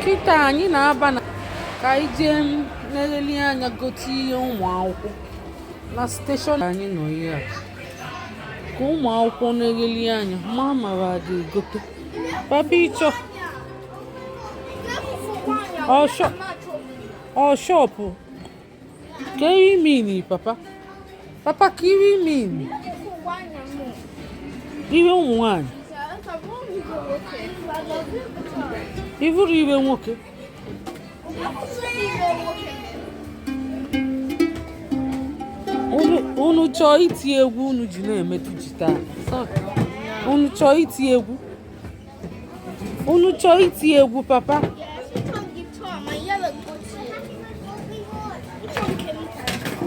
kịta anyị na-aba na ka anyị jee na-eleli anya gote ihe ụmụ akwụkwọ na steshọn anyị nọ ihe a ka ụmụ akwụkwọ na-eleli anya ma mara adị egote papa ị chọọ shọpụ Kee iwe meni papa. Papa kee iwe meni. Iwe ụmụ nwanyị. I vuru iwe nwoke. Unu chọọ iti egwu unu ji na-emetụ jita. Unu chọọ iti egwu. unu chọọ iti egwu papa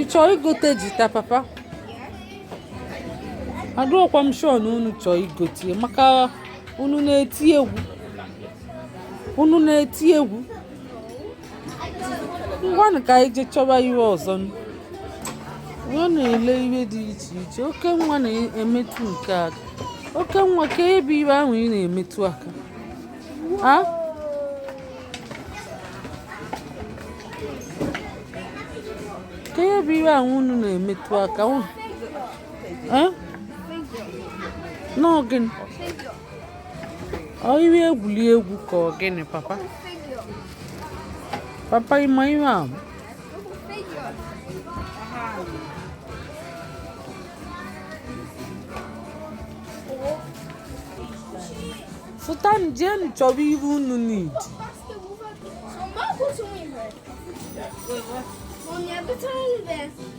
ị chọọ igote jita papa adịrọkwa m shọ na unu chọọ igote maka unu na-eti egwu unu na-eti egwu ngwanụ ka anyị jee chọba iwe ọzọ nwa na-ele iwe dị iche iche oke nwa na-emetụ nke aka oke nwa kee ihe bụ iwe ahụ ị na-emetụ aka a kee ihe bụ iwe ahụ unu na-emetụ aka ọ gịnị ọ iwe egwuli egwu ka ọ gịnị papa papa ị ma iwe a fụtanụ jeenụ chọbe ihe unu need Wait, what? Mommy, I've been telling you this.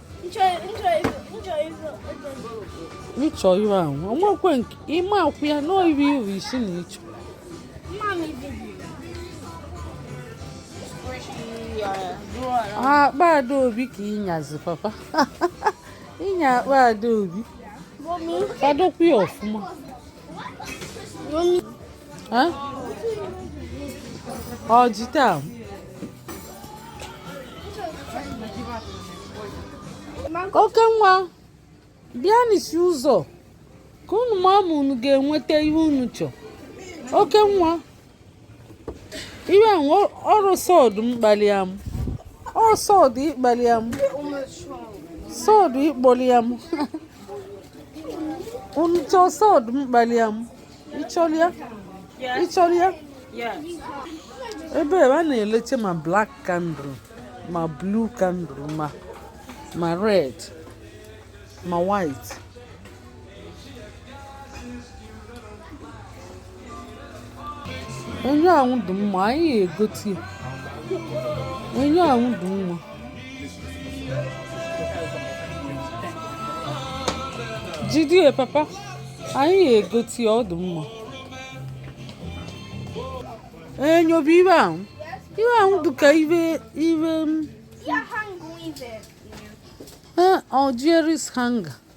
ị chọ iwe ahụ o nwekwe nke ime akwụ ya n'oyiri iri isi na ị chọ akpa adaobi ka ị nyazi papa ị nya akpa adaobi fadokwa ya ọfụma ọ jita ahụ oke nwa bịa n'isi ụzọ ka unu ma ma unu ga-enweta ihe unu chọ oke nwa iwe nwe ọrụ sọdụ mkpali ya m ọrụ sọdụ ịkpali ya m sọdụ ịkpọli ya m unu chọọ sọdụ mkpali ya m ịchọrịa ịchọrịa ebe a na-eleche ma black candle ma blue candle ma ma red ma white onye ahụ dị mma anyị egote onye ahụ dị mma jidie papa anyị ga-egote ọ dụ mma enyo bụ ihe ahụ ihe ahụ dịka ihe ihe m Algiers hunger.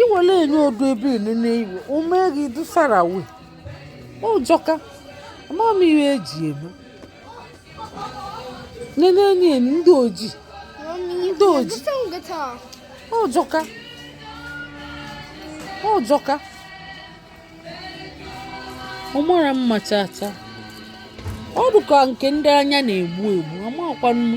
iwele enye odu ebe inu n'iwe omeghi dusara we ojoka ama m ihe e ji eme nene enyi enu ndị oji ndị oji ojoka ojoka ọ mara mma chaa chaa ọ dụka nke ndị anya na-egbu egbu amakwanụ